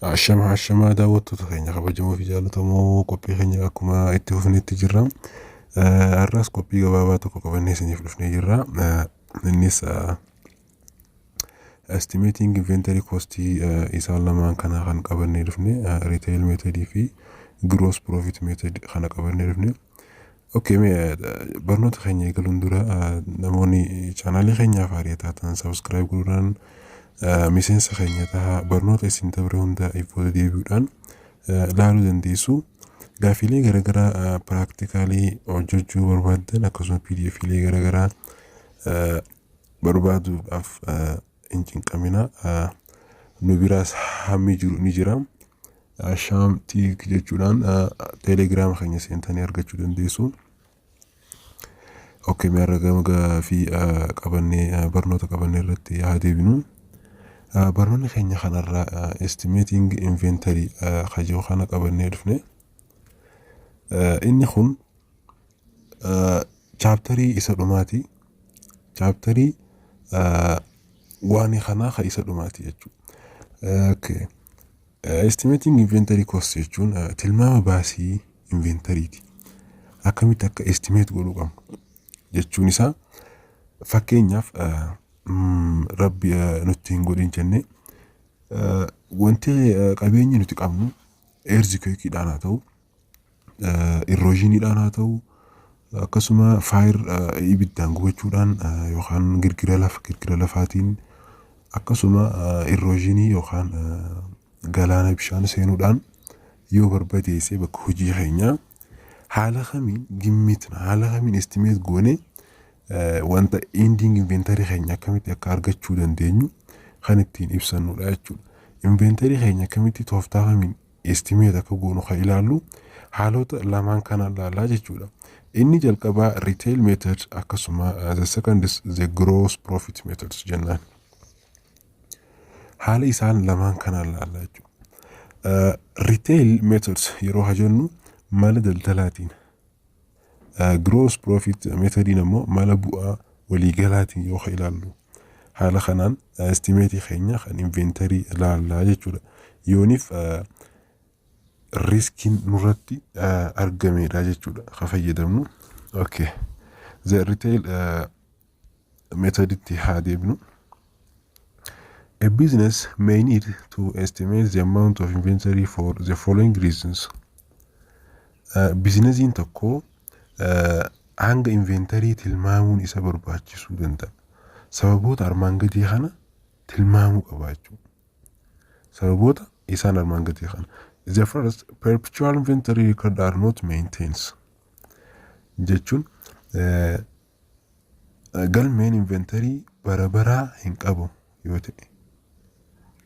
Ashama ashama daawwattoota keenya kabajamoo fi jaallatamoo qophii keenya akkuma itti fufnetti jirra. Eh, Har'as qophii gabaabaa tokko qabannee isiniif dhufnee jirra. Eh, Innis eh, estimating inventory cost eh, isaan lamaan kana kan qabannee dhufne eh, retail method fi gross profit method kana qabannee dhufne. Okay, mee eh, barnoota keenya eegaluun dura eh, namoonni chaanaalii keenyaaf haaraa taatan sabiskiraayib godhuudhaan eh, miseensa keenya tahaa barnoota isin dabre hunda ifoota deebi'uudhaan eh, ilaaluu dandeessu. Gaaffiilee garaagaraa eh, piraaktikaalii hojjechuu barbaaddan akkasumas PDFiilee garaagaraa eh, barbaaduudhaaf eh, hin cinqamina nu biraas hammi jiru ni jira shaam tiik jechuudhaan teelegiraama keenya seentanii argachuu dandeessu. Okkee mee har'a gama gaafii qabannee barnoota qabannee irratti haa deebinu. Barnoonni keenya kanarraa estimeeting inventory kajoo kana qabannee dhufne. Inni kun Chaaptarii isa dhumaati. Chaaptarii waanii kanaa ka isa dhumaati jechuudha. Estimating inventory cost jechuun tilmaama baasii inventariiti. Akkamitti akka estimate godhuu qabnu jechuun isaa fakkeenyaaf rabbi nutti hin godhin jennee wanti qabeenyi nuti qabnu eerzi keekiidhaan haa ta'u. irroozhiiniidhaan haa ta'u akkasuma faayir ibiddaan gubachuudhaan yookaan girgira lafa girgira lafaatiin akkasuma irroozhiinii yookaan galaana bishaan seenuudhaan yoo barbadeesse bakka hojii keenyaa haala kamiin gimmitna haala kamiin estimeet goone wanta indiing inventarii keenya akkamitti akka argachuu dandeenyu kan ittiin ibsannudha jechuudha. Inventarii keenya akkamitti tooftaa kamiin estimate akka goonu kan ilaallu haalota lamaan kana ilaallaa jechuudha. Inni jalqabaa retail method akkasuma the second is the gross profit methods jennaan. Haala isaan lamaan kana ilaallaa jechuudha. Retail methods yeroo hajennu mala daldalaatiin Gross profit metodiin ammoo mala bu'aa waliigalaatiin yoo ka ilaallu haala kanaan estimeetii keenya kan inventarii ilaallaa jechuudha. Yooniif riskiin nurratti argameedha jechuudha ka fayyadamnu. Okay. The retail uh, metoditti haa deebinu. A business may need to estimate the amount of inventory for the following reasons. Uh, Bizinesiin tokko uh, hanga inventarii tilmaamuun isa barbaachisuu danda'a. Sababoota armaan gadii kana tilmaamuu qaba jechuudha. Sababoota isaan armaan gadii kana. The first, perpetual inventory record are not maintains. Jechuun uh, Galmeen inventarii bara baraa hin qabu yoo ta'e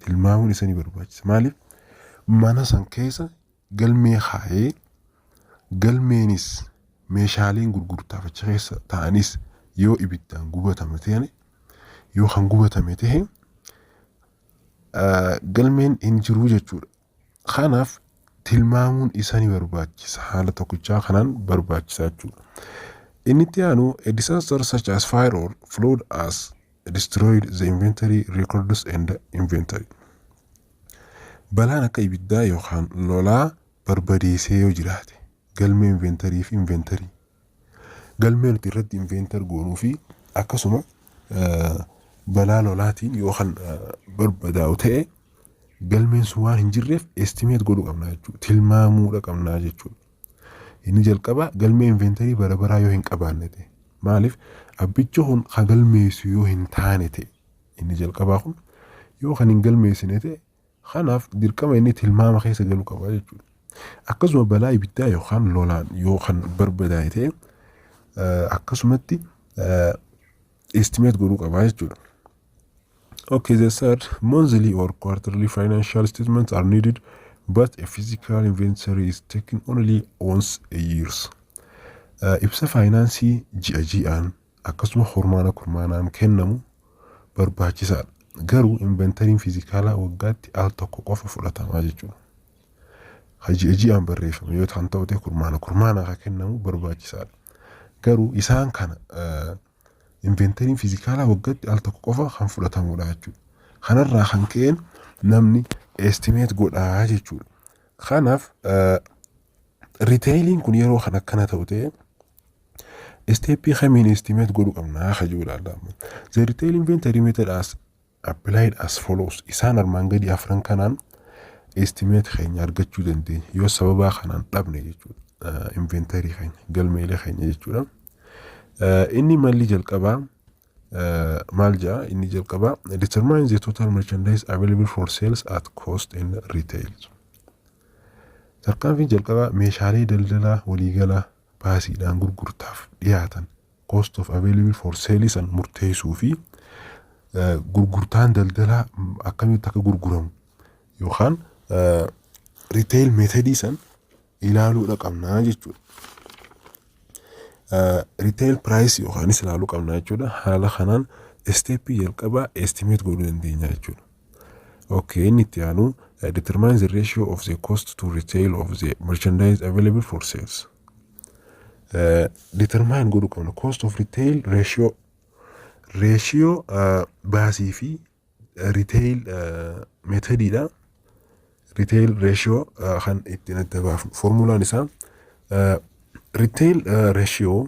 tilmaamuun isa ni barbaachisa. Maaliif? Mana san keessa galmee kaa'ee galmeenis meeshaaleen gurgurtaaf achi keessa ta'anis yoo ibiddaan gubatame ta'e yoo kan gubatame ta'e galmeen hin jiru jechuudha. Kanaaf tilmaamuun isa ni barbaachisa. Haala tokkichaa kanaan barbaachisaa jechuudha. Inni itti aanu a disaster such as fire or flood as destroyed the inventory records and inventory. Balaan akka ibiddaa yookaan lolaa barbadeessee yoo jiraate galmee inventarii fi inventarii Galmee nuti irratti inveentar goonuu fi akkasuma balaa lolaatiin yoo kan barbadaa'u ta'e galmeen sun waan hin jirreef estimeet godhuu qabna jechuudha. Tilmaamuudha qabnaa jechuudha. Inni jalqabaa galmee inventarii bara baraa yoo hin qabaanne ta'e. Maaliif abbichi kun kan galmeessu yoo hin taane ta'e. Inni jalqabaa kun yoo kan hin galmeessine ta'e Kanaaf dirqama inni tilmaama keessa galu qaba jechuudha. Akkasuma balaa ibiddaa yookaan lolaan yoo kan barbadaa'e ta'e eh, akkasumatti estimate godhuu qaba jechuudha. Okay, the third, monthly or quarterly financial statements are needed, but a physical inventory is taken only once a year. Uh, ibsa faayinaansii ji'a ji'aan akkasuma kurmaana kurmaanaan kennamu barbaachisaadha. Garuu inventariin fiizikaalaa waggaatti al tokko qofa fudhatamaa jechuudha. Ha ji'a ji'aan barreeffame yoo ta'an ta'u ta'e kurmaana kurmaanaa kan kennamu barbaachisaadha. Garuu isaan kana inventariin fiizikaalaa waggaatti al tokko qofa kan fudhatamudha jechuudha. Kanarraa kan ka'een namni estimeet godhaa jechuudha. Kanaaf Riteeyiliin kun yeroo kan akkana ta'u ta'e isteeppii kamiin istimeet godhu qabnaa ka jiru ilaalla. The retail inventory method as applied as follows. Isaan armaan gadi afran kanaan istimeet keenya argachuu dandeenya. Yoo sababaa kanaan dhabne jechuudha. Inventory keenya, galmeelee keenya jechuudha. Inni malli jalqabaa maal ja'a inni jalqabaa determine the total merchandise available for sales at cost in retail. Tarkaanfiin jalqabaa meeshaalee daldalaa waliigalaa baasiidhaan gurgurtaaf dhiyaatan, cost of available for sale, san murteessuu fi gurgurtaan daldalaa akkamitti akka gurguramu yookaan retail method san ilaaluudha qabnaa jechuudha. Retail price yookaanis ilaaluu qabnaa jechuudha. Haala kanaan isteeppii jalqabaa estimate godhuu dandeenya jechuudha. Okay, inni itti aanu uh, determine the ratio of the cost to retail of the merchandise available for sales. Uh, determine godhuu qabna cost of retail ratio ratio uh, baasii fi uh, retail uh, methodidha. Retail ratio uh, kan ittiin adda baafnu formulaan isaa uh, retail uh, ratio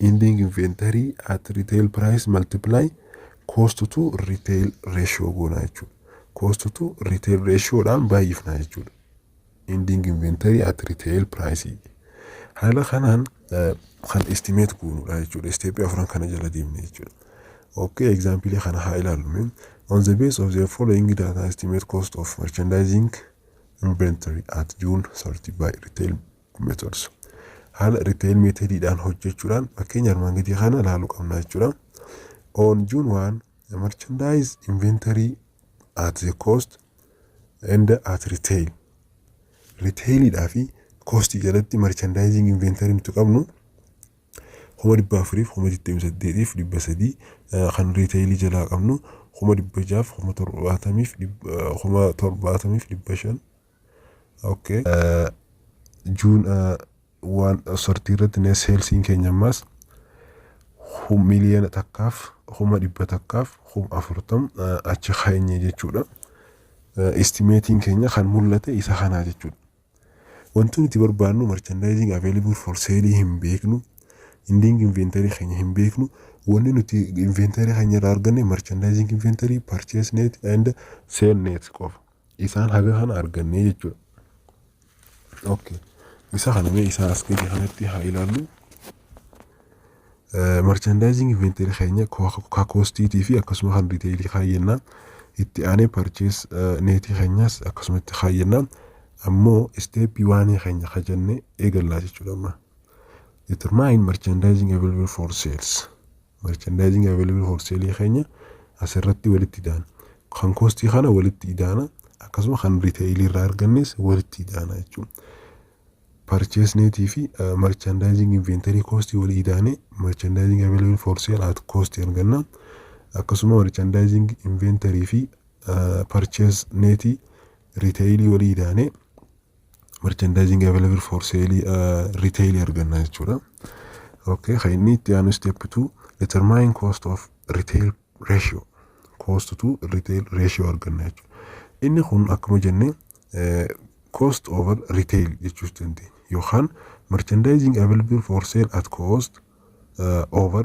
ending inventory at retail price multiply cost to retail ratio goona jechuudha. cost to retail ratio dhaan baay'ifna jechuudha. ending inventory at retail price haala kanaan eh, kan estimate goonudha jechuudha. Isteeppii afran kana jala deemne jechuudha. Okay, example kana haa ilaallu. mee. On the base of the following data estimate cost of merchandising inventory at June 30 by retail methods haala repair method dhaan hojjechuudhaan fakkeenya armaan gadii kana ilaaluu qabna jechuudha. On June 1, the merchandise inventory at the cost and at retail. Retail dhaa fi cost jalatti merchandising inventory nuti qabnu kuma dhibba afuriif kuma digdamii saddeetiif dhibba sadii kan retail jalaa qabnu kuma dhibba jaaf kuma torbaatamiif kuma torbaatamiif dhibba shan Okay. Juun waan sortii irratti net seelsiin keenya ammaas miliyoona takkaaf kuma dhibba takkaaf kuma afurtam achi keenye jechuudha. Istimeetiin keenya kan mul'ate isa kanaa jechuudha. Wanti nuti barbaannu merchandising available for sale hin beeknu. Ending inventory keenya hin beeknu. Wanni nuti inventory keenya irraa arganne merchandising inventory, purchase net and sale net qofa. Isaan haga kana argannee jechuudha. Okay. Isa kana mee isaa as gadi kanatti haa ilaallu. Marchandizing inventory keenya ka koostiitii fi akkasuma kan riteelii kaayyannaa itti aanee parchees neetii keenyas akkasuma itti kaayyannaa ammoo isteeppii waanii keenya ka jenne eegallaa jechuudha amma. Determine merchandising available for sales. Merchandising available for sale keenya asirratti walitti idaana. Kan kostii kana walitti idaana akkasuma kan riteeyilii irraa argannes walitti idaana jechuudha. Purchase net fi merchandising inventory cost walii idaane merchandising available for sale at cost arganna. Akkasuma merchandising inventory fi purchase net riteeyilii walii idaane merchandising available for sale retail arganna jechuudha. Okay, kan inni itti aanu step 2 determine cost of retail ratio cost to retail ratio arganna jechuudha. Inni kun akkuma jenne cost over retail jechuus dandeenya yookaan merchandising available for sale at cost uh, over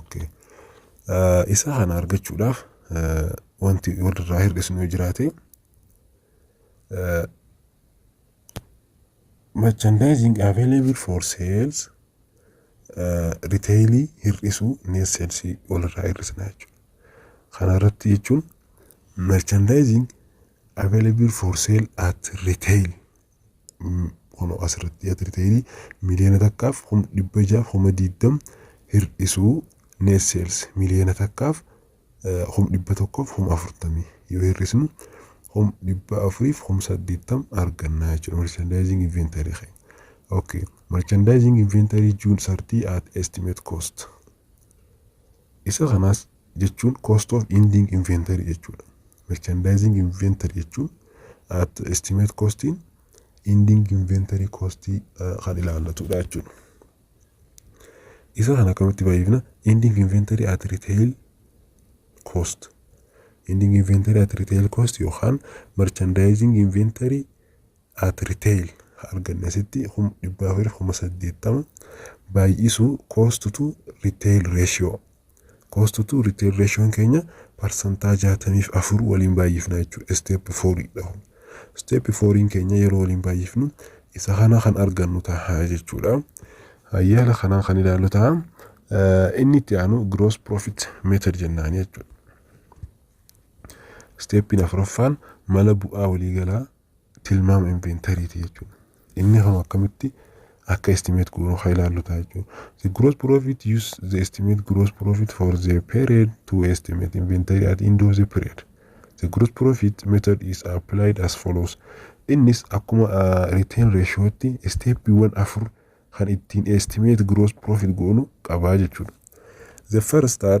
Okay. Eh, Isa kana argachuudhaaf eh, wanti walirraa hir'isnu yoo jiraate merchandising available for sales riteelii hir'isuu neet seelsii walirraa hir'isna jechuudha. Kana irratti jechuun merchandising available for sale at retail Kun asirratti atiriteerii miliyoona takkaaf kuma dhibba jaaf kuma diiddam hir'isuu net sales miliyoona takkaaf kuma dhibba tokkoof kuma afurtamii yoo hir'isnu kuma dhibba afuriif kuma saddeettam argannaa jechuudha merchandising inventory keenya. Okay. Merchandising inventory June 30 at estimate cost. Isa kanas jechuun cost of ending inventory jechuudha. Merchandising inventory jechuun at estimate costiin ending inventory costii kan ilaallatudha jechuudha. Isa kan akkamitti baay'ifna? Ending inventory at retail cost. Ending inventory at retail cost yookaan merchandising inventory at retail ha arganne asitti kum dhibba afur kuma saddeettama baay'isu cost to retail ratio cost to retail ratio keenya parsantaa jaatamiif afur waliin baay'ifna jechuudha step fouriidha step fouriin keenya yeroo waliin baay'ifnu isa kana kan argannu ta'a jechuudha hayyaala kanaa kan ilaallu ta'a inni itti aanu gross profit method jennaan jechuudha steppiin afuraffaan mala bu'aa waliigalaa tilmaama inventariiti jechuudha. Inni hama akkamitti akka estimate goonu haa ilaallu ta'a jechuudha. The gross profit use the estimate gross profit for the period to estimate inventory at end of the period. The gross profit method is applied as follows. Innis akkuma uh, return ratiotti steppiiwwan afur kan ittiin estimate gross profit goonu qabaa jechuudha. The first are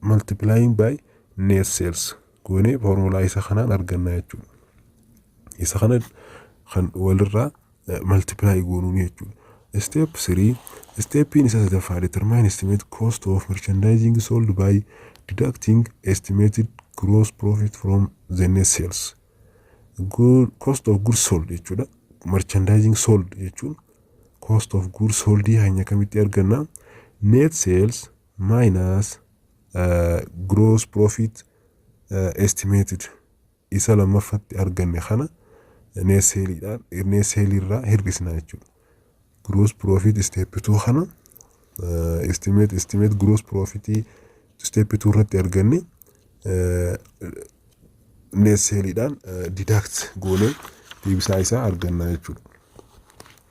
multiplying by net sales goonee foormulaa isa kanaan argannaa jechuudha. Isa kana kan walirraa multiply goonuun jechuudha. Step 3 Steppiin isa sadaffaa determine estimate cost of merchandising sold by deducting estimated gross profit from the net sales. Good, cost of goods sold jechuudha. Merchandising sold jechuun cost of goods sold hanya kamitti arganna net sales minus uh, gross profit uh, estimated isa lammaffatti arganne kana net sale dhaan net sale irraa hir'isna jechuudha. Gross profit step 2 kana uh, estimate estimate gross profit step 2 irratti arganne uh, net sale dhaan uh, deduct goonee deebisaa isaa arganna jechuudha.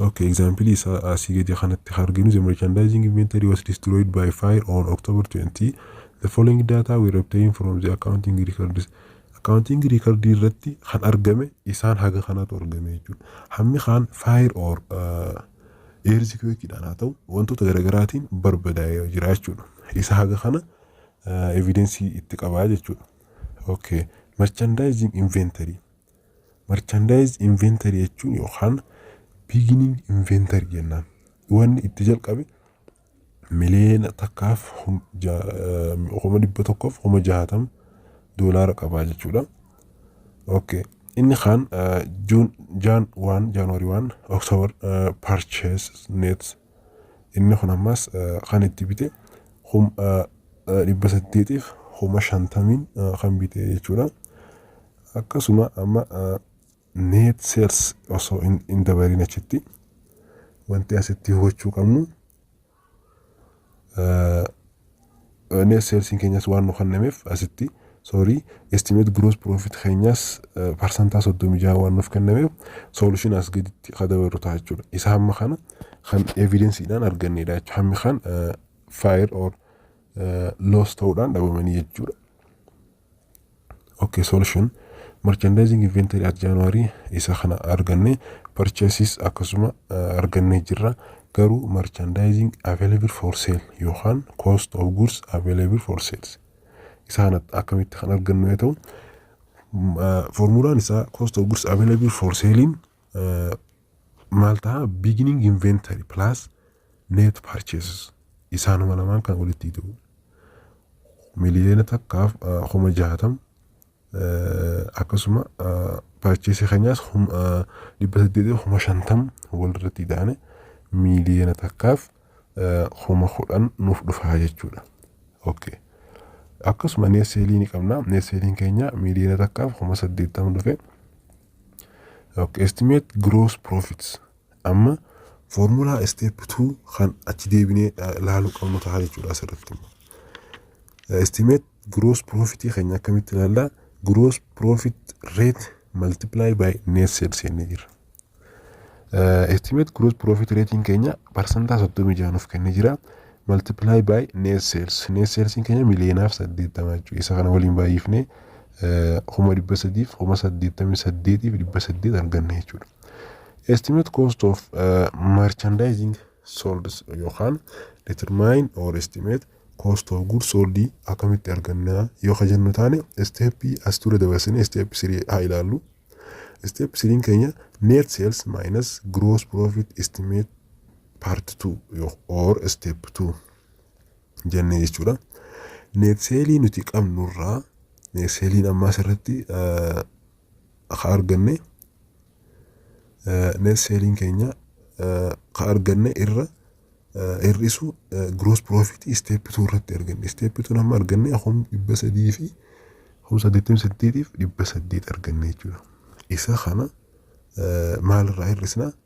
Okay, example isaa asii gadi kanatti kan arginu the merchandising inventory was destroyed by fire on October 20. The following data were obtained from the accounting records. Accounting record irratti kan argame isaan haga kanatu argame jechuudha. Hammi kaan fire or earthquake dhaan haa ta'u wantoota garaagaraatiin barbadaa'ee jira jechuudha. Isa haga kana evidensii itti qabaa jechuudha. Okay, merchandising inventory Merchandise inventory jechuun yookaan beginning inventory jennaan. Wanni itti jalqabe miliyoona takkaaf hum- ja- eh, kuma dhibba tokkoof kuma jahatam doolaara qabaa jechuudha. Okay. Inni kaan eh, June Jan 1 January 1 October eh, purchase net inni kun ammas eh, kan itti bite kum eh, eh, dhibba saddeetiif kuma shantamiin eh, kan bite jechuudha. Akkasuma amma net sales osoo hin dabaliin achitti wanti asitti hubachuu qabnu net sales keenyas waan nu kennameef asitti sorry estimate gross profit keenyas parsantaa soddomii jaha waan nuuf kennameef solution as gaditti ka dabarru ta'a jechuudha. Isa hamma kana kan evidensiidhaan arganneedha jechuudha. Hammi kan fire or loss ta'uudhaan dhabamanii jechuudha. okay solution merchandising inventory at january isa kana arganne purchases akkasuma uh, argannee jirra garuu merchandising available for sale yookaan cost of goods available for sales isa kana akkamitti kan argannu yoo ta'u uh, formulaan isaa cost of goods available for salein maal ta'a beginning inventory plus net purchases isaanuma lamaan kan walitti ida'u miliyoona takkaaf kuma jaatam akkasuma purchase keenyaas dhibba saddeetii kuma shantam walirratti ida'ane miliyoona takkaaf kuma kudhan nuuf dhufaa jechuudha. Okay. Akkasuma neeseelii ni qabna. Neeseeliin keenya miliyoona takkaaf kuma saddeettama dhufe. Ok estimate gross profits amma formulaa step 2 kan achi deebinee ilaaluu qabnu ta'a jechuudha asirratti. Estimate gross profit keenya akkamitti ilaalla? Gross profit rate multiply by net sales jennee jirra. Estimate gross profit rating keenya parsantaa 36 nuuf kennee jira. multiply by net sales net sales keenya miliyoonaaf saddeettama jechuudha isa kana waliin baay'ifne kuma dhibba sadiif kuma saddeettamii saddeetiif dhibba saddeet arganne jechuudha. Estimate cost of uh, merchandising sold yookaan determine or estimate cost of goods sold akkamitti argannaa yoo ka jennu taane isteeppii as dura dabarsine isteeppi sirii haa ilaallu. Isteeppi siriin keenya net sales minus gross profit estimate part 2 yo- or step 2 jennee jechuudha. Netseelii nuti qabnurraa netseeliin ammaa asirratti eh, ka arganne eh, netseeliin keenya eh, ka arganne irra eh, hir'isu eh, gross profit step 2 irratti arganne. Step 2 amma arganne kum dhibba sadii fi kum saddeettamii saddeetiif dhibba saddeet arganne jechuudha. Isa kana eh, maalirraa hir'isna?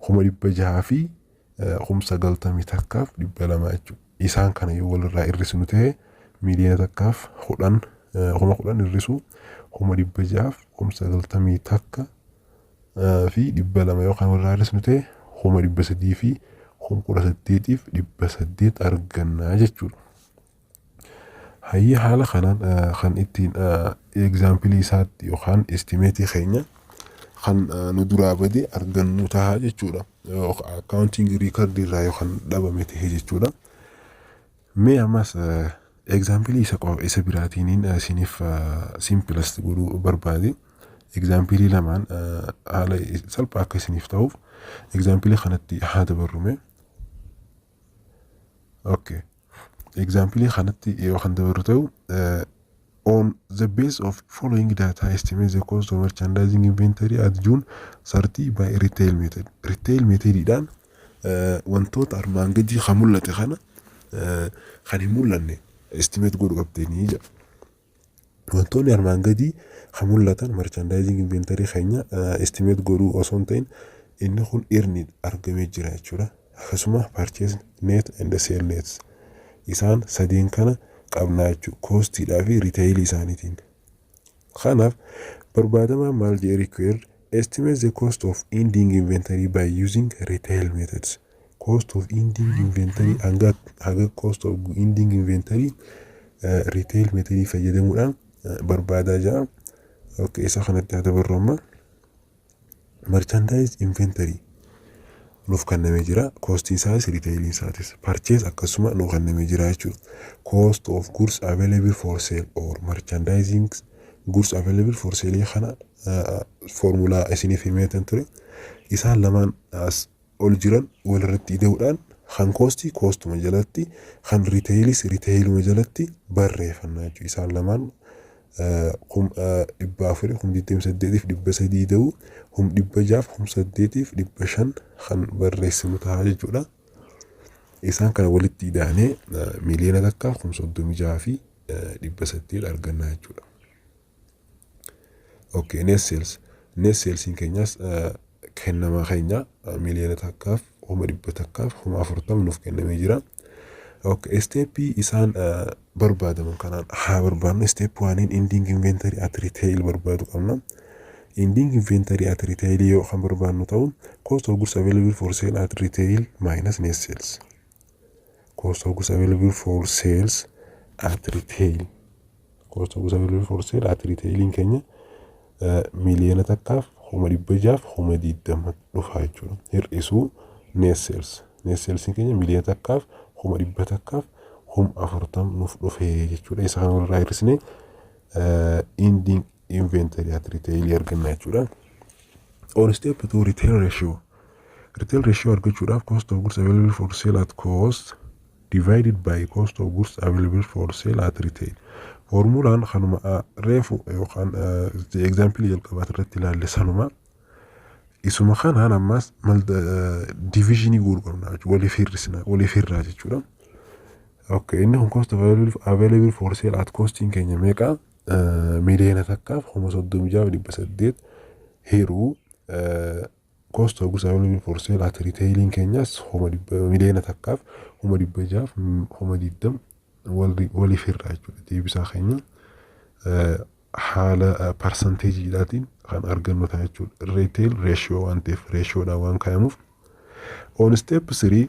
kuma dhibba jahaa fi kum sagaltamii takkaaf dhibba lama jechuudha. Isaan kana yoo walirraa hir'isnu ta'e miiliyoona takkaaf kudhan kuma kudhan hir'isuu kuma dhibba jahaaf kum sagaltamii takka fi dhibba lama yoo kan walirraa hir'isnu ta'e kuma dhibba sadii fi kum kudha saddeetiif dhibba saddeet argannaa jechuudha. Hayyee haala kanaan kan ittiin egzaampilii isaatti yookaan istimeetii keenya kan nu duraa bade argannu taha jechuudha. Akkaawuntiin riikardii irraa yookaan dhabame tahe jechuudha. Mee ammas egzaampilii isa qofa isa biraatiin isiniif simpilas godhuu barbaade. Egzaampilii lamaan haala salphaa akka isiniif ta'uuf egzaampilii kanatti haa dabarrume. Okay. Example kanatti yoo kan dabaru ta'u eh, on the base of following data estimate the cost of merchandising inventory at June 30 by retail method. Retail methodidhaan eh, wantoota armaan gadii kan mul'ate kana eh, kan hin mul'anne estimate godhu qabdeenii jedha. Wantoonni armaan gadii kan mul'atan marchandizing inventory keenya estimate godhuu osoo hin ta'in inni kun earned argamee jira jechuudha. Akkasuma purchase net and sale net isaan sadeen kana qabnaa jechuudha. Koostiidhaa fi riteeyilii isaaniitiin. Kanaaf barbaadamaan maal jedhee required Estimate the cost of ending inventory by using retail methods. Cost of ending inventory hanga haga cost of ending inventory eh, retail method fayyadamuudhaan eh, barbaadaa jira. Okay, isa kanatti haa dabarru amma. Merchandise inventory nuuf kennamee jira. Koostiin isaas retailiin isaatis. Purchase akkasuma nuuf kennamee jira jechuudha. Cost of goods available for sale or merchandising goods available for sale kana foormulaa isiniif himeetan ture isaan lamaan as ol jiran walirratti ida'uudhaan kan koosti koostuma jalatti kan riteeyilis riteeyiluma jalatti barreeffannaa jechuudha isaan lamaan kum dhibba afurii kum digdami saddeetiif dhibba sadii ida'uu kum dhibba jaaf kum saddeetiif dhibba shan kan barreessinu ta'a jechuudha isaan kana walitti ida'anee miliyoona takka kum soddomi jaha fi dhibba saddeet argannaa jechuudha. Okay, net sales. Net salesiin keenyaas eh, kennama keenya eh, miliyoona takkaaf kuma dhibba takkaaf kuma afurtama nuuf kennamee jira. Okay, isteeppii isaan eh, barbaadaman kanaan haa barbaadnu. Isteep waaniin indiing inventory at retail barbaadu qabna. Indiing inventory at retail yoo kan barbaadnu ta'u cost of goods available for sale at retail minus net sales. cost of goods available for sales at retail cost of goods available for sale at retailiin keenya eh, miliyoona takkaaf kuma dhibba jaaf kuma digdama dhufa jechuudha hir'isuu net sales net salesiin keenya miliyoona takkaaf kuma dhibba takkaaf kuma afurtam nuuf dhufee jechuudha isa kana walirraa hir'isnee eh, ending inventory at retail arganna jechuudha. Or step to retail ratio. Retail ratio argachuudhaaf cost of goods available for sale at cost divided by cost of goods available for sale at retail. Formulaan kanuma ah, reefu yookaan ah, example jalqabaa irratti ilaalle sanuma. Isuma kanaan ammas mal divisionii goonu qabna jechuudha. Waliif hir'isna, waliif hir'aa jechuudha. Okay, inni kun cost available available for sale at costing keenya meeqa? miliyoona takkaaf kuma soddomii ja'a dhibba saddeet hiruu cost of goods available for sale at retailing keenyas kuma dhibba miliyoona takkaaf kuma dhibba jaaf kuma digdam waliif hirraa jechuudha deebisaa keenya haala parsanteejiidhaatiin kan argannu ta'a jechuudha retail ratio waan ta'eef ratioodhaan waan kaayamuuf on step 3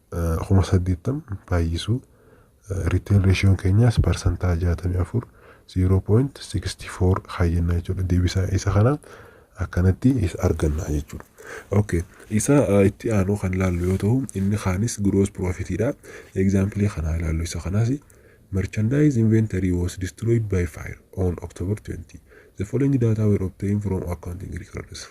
kuma saddeettam baay'isuu retail ratioon keenyaas parsantaa jaatamii afur 0.64 kaayyannaa jechuudha deebisaa isa kana akkanatti isa arganna jechuudha. Okay. Isa uh, itti aanu kan ilaallu yoo ta'u inni kaanis gross profit dha. Example kana ilaallu isa kanas merchandise inventory was destroyed by fire on October 20. The following data were obtained from accounting records.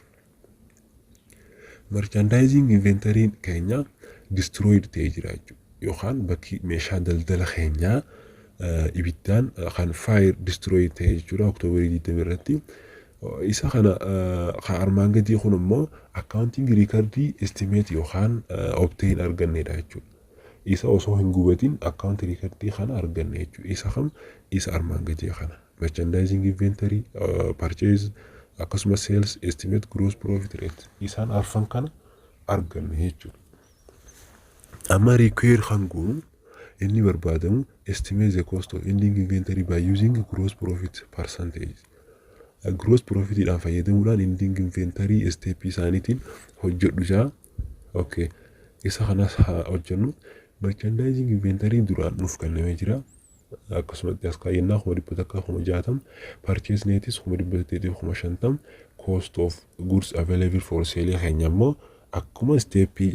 Merchandising inventory keenya destroyed ta'ee jira jechuudha. Yookaan bakki meeshaa daldala keenyaa ibiddaan kan fire destroy ta'e jechuudha October 20 irratti. Isa kana kan armaan gadii kun immoo accounting record estimate yookaan obtain arganneedha jechuudha. Isa osoo hin gubatin account record kana arganne jechuudha. Isa kam isa armaan gadii kana. merchandising inventory, uh, purchase akkasumas sales estimate gross profit rate isaan arfan kana arganna jechuudha. Amma require kan goonu inni barbaadamu estimate the cost of ending inventory by using gross profit percentage. Uh, gross profitidhaan fayyadamuudhaan ending inventory step isaaniitiin hojjedhu jaa. Okay. Isa kanas haa hojjennu. Merchandising inventory duraan nuuf kennamee jira. akkasumatti as kaayyannaa kuma dhibba takkaa kuma jaatam purchase netis kuma dhibba saddeetiif kuma shantam cost of goods available for sale keenya immoo akkuma isteeppii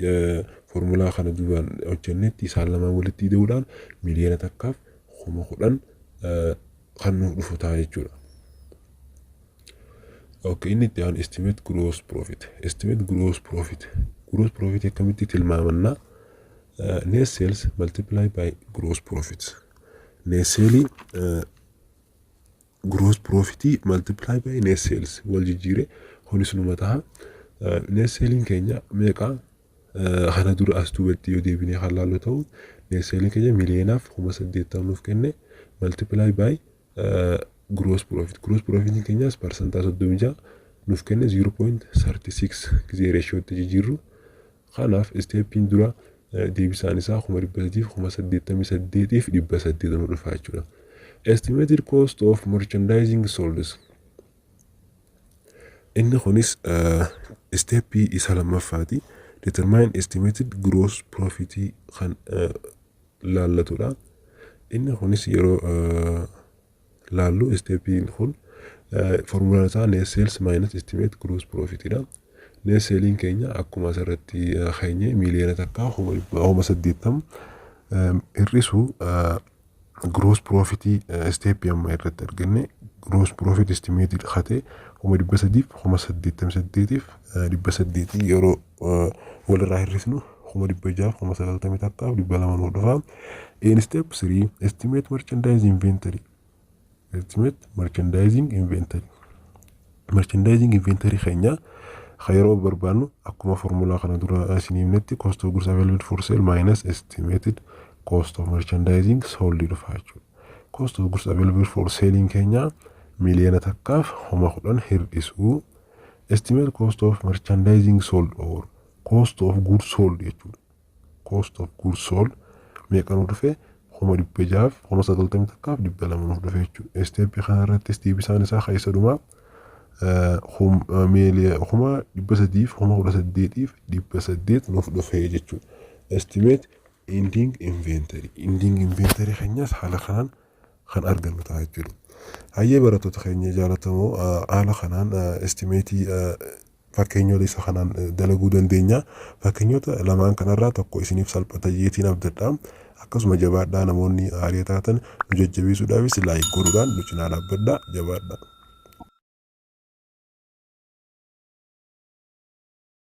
formulaa kana duraan hojjennetti isaan lamaan walitti ida'uudhaan miliyoona takkaaf kuma kudhan kan nuuf dhufu ta'a jechuudha. Okay, inni itti aanu estimate gross profit. Estimate gross profit. Gross profit akkamitti tilmaamannaa? Net sales multiply by gross profit. Net sale gross profit multiply by net sales wal jijjiire kunis numa taha. Net saliin keenya meeqa kana dura as duubatti yoo deebinee kan laallu ta'u net saliin keenya miliyoonaaf kuma saddeettan nuuf kenne multiply by gross profit. Gross profit keenyas parsantaa soddomii ja'a nuuf kenne 0.36 gisee reeshiyootti jijjiirru. Kanaaf isteeppiin duraa deebisaan isaa kuma dhibba sadiif kuma saddeettamii saddeetiif dhibba saddeet nu dhufaa jechuudha. Estimated cost of merchandising solds. Inni kunis isteeppii isa lammaffaati. Determine estimated gross profit kan laallatudha. Inni kunis yeroo laallu isteepiin kun formulaan isaa net sales minus estimate gross profit dha. Net saliin keenya akkuma asirratti keenye miiliyoona takkaa kuma dhibba kuma saddeettam hir'isu gross profit isteepii amma irratti arganne gross profit estimate kate kuma dhibba sadiif kuma saddeettam saddeetiif dhibba saddeetii yeroo walirraa hir'isnu kuma dhibba jaaf kuma sagaltamii takkaaf dhibba lama nuuf dhufa. In step 3 estimate merchandise inventory estimate merchandising inventory merchandising inventory keenya kan yeroo barbaannu akkuma formulaa kana dura isin himnetti cost of goods available for sale minus estimated cost of merchandising sold dhufa jechuudha. Cost of goods available for selling keenya miliyoona takkaaf kuma kudhan hir'isuu Estimate cost of merchandising sold or cost of goods sold jechuudha. Cost of goods sold meeqa nu dhufe kuma dhibba jaaf kuma sagaltamii takkaaf dhibba lama nuuf dhufe jechuudha. Isteeppii kana irrattis deebisaan isaa keessa dhumaa kuma dhibba sadiif kuma kudha saddeetiif dhibba saddeet nuuf dhufe jechuudha. Estimate ending inventory. Ending inventory keenyas haala kanaan kan argannu ta'a jechuudha. Hayyee barattoota keenya jaalatamoo haala kanaan estimeetii fakkeenyoota isa kanaan dalaguu dandeenya. Fakkeenyoota lamaan kanarraa tokko isiniif salphata jeetiin abdadha. Akkasuma jabaadhaa namoonni haarii taatan nu jajjabeessuudhaafis laayik godhuudhaan nu cinaa dhaabbadhaa jabaadhaa.